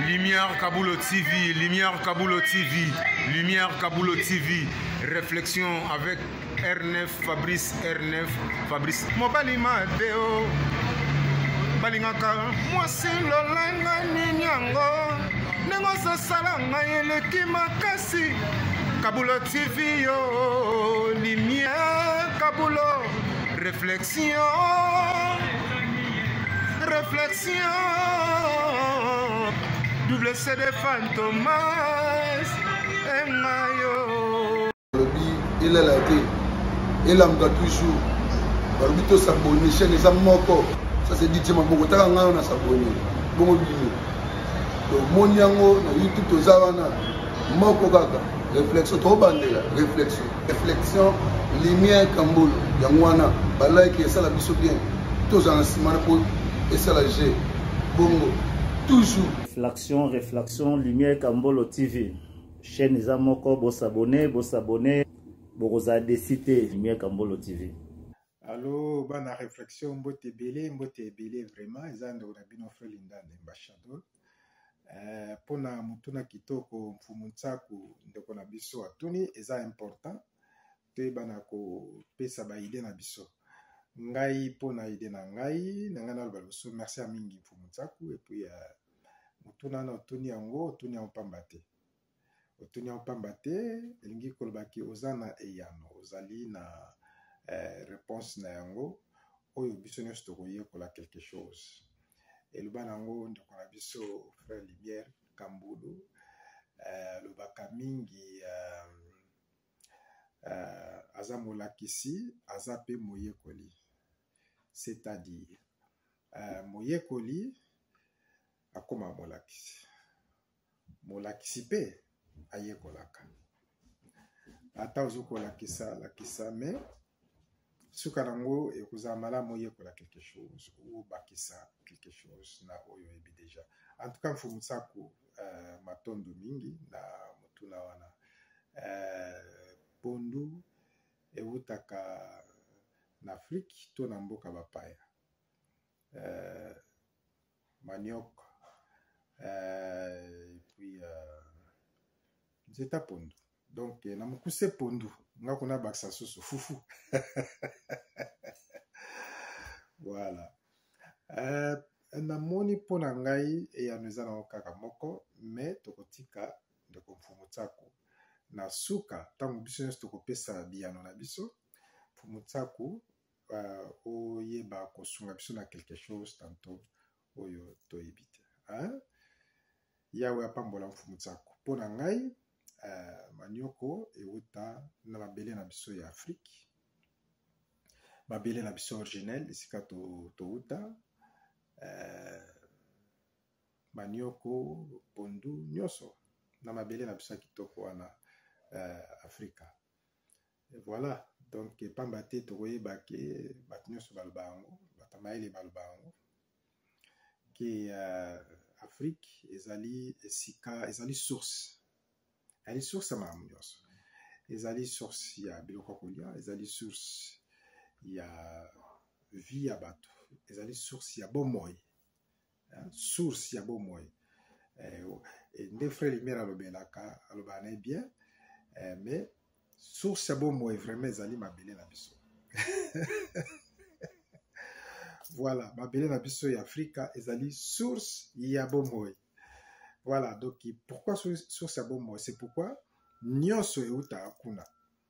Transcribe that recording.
Lumière Kabulo TV, Lumière Kabulo TV, Lumière Kabulo TV, réflexion avec R9, Fabrice R9, Fabrice. Mobali Mateo, balingaka mwasi lolanga nini yango ndenge ozosala ngai eleki makasi Kabulo TV yo, Lumière Kabulo, réflexion. Réflexion, double CD Fantomas, et Mayo. Il est là, il est là, toujours. balobi tosabone chaine eza moko ça c'est dit maboko taka ngai wana sabone bongo bino tomoni yango na youtube toza wana moko kaka réflexion tobandela réflexion reflexion lumière kambolo yango wana balike esala biso bien tozala na nsima na po esala je bongo toujours reflexion reflexion lumière kambolo tv chaîne eza moko bosabone bosabone bokozala desi te lumière kambolo tv alo bana reflexion mbote ebele mbote ebele vraiment eza ndeko na bino frelindande mbashadol eh, mpo na motuna kitoko mfumu nsaku ndeko na biso atuni eza important toyebana kopesa baide na biso ngai mpo na ide na ngai na ngai naloba liboso merci ya mingi mfumu nsaku epuis eh, motuna na otuni yango otuni yango mpamba te otuni yango mpamba te elingi koloba ke oza na eyano ozali na eh, réponse na yango oyo biso nyonso tokoyekola quelque chose eloba na yango ndeko na biso frère lumière kambulu eh, alobaka eh, mingi eh, eh, aza molakisi aza mpe moyekoli c'est-à-dire eh, moyekoli akoma molakisi molakisi mpe ayekolaka ata ozo kolakisa lakisa me suka nango ekozala malamu oyekola quelque chose obakisa quelque chose na oyo oyebi deja en tout cas mfumu saku uh, matondo mingi na motuna wana uh, pondu ewutaka na afrike to na mboka bapaya euh, manioc euh, et puis euh, nzeta pondu donc na mokuse pondu nga kuna bakisa susu fufu voilà euh, namoni mpo na ngai eyano eza nango kaka moko me tokotika ndeko mfumu tsako na suka ntango biso nyonso tokopesa biyano na biso mfumu tsako oyeba kosunga biso na quelque chose tanto oyo toyebi te yawe apambola mfumu tsako mpo na ngai uh, manioko ewuta na mabele na biso ya afrike mabele na biso originel esika towuta to uh, manioko pondu nyonso na mabele na biso ya kitoko wana uh, afrika Et voilà donc pamba te tokoyeba ke bato nyonso baloba yango bato ya mayele baloba yango ke uh, afrique ezali esika ezali source ezali source ya makambo nyonso ezali source ya biloko ya kolia ezali source ya vie ya bato ezali source ya bomoi hein, source ya bomoi eh, eh, nde frère lumière alobelaka alobaka na ye bien eh, mais source ya bomoi vraiment ezali mabele na biso voilà mabele na biso ya afrika ezali source ya bomoi voilà donc pourquoi source ya bomoi c'est pourquoi nyonso eutaka kuna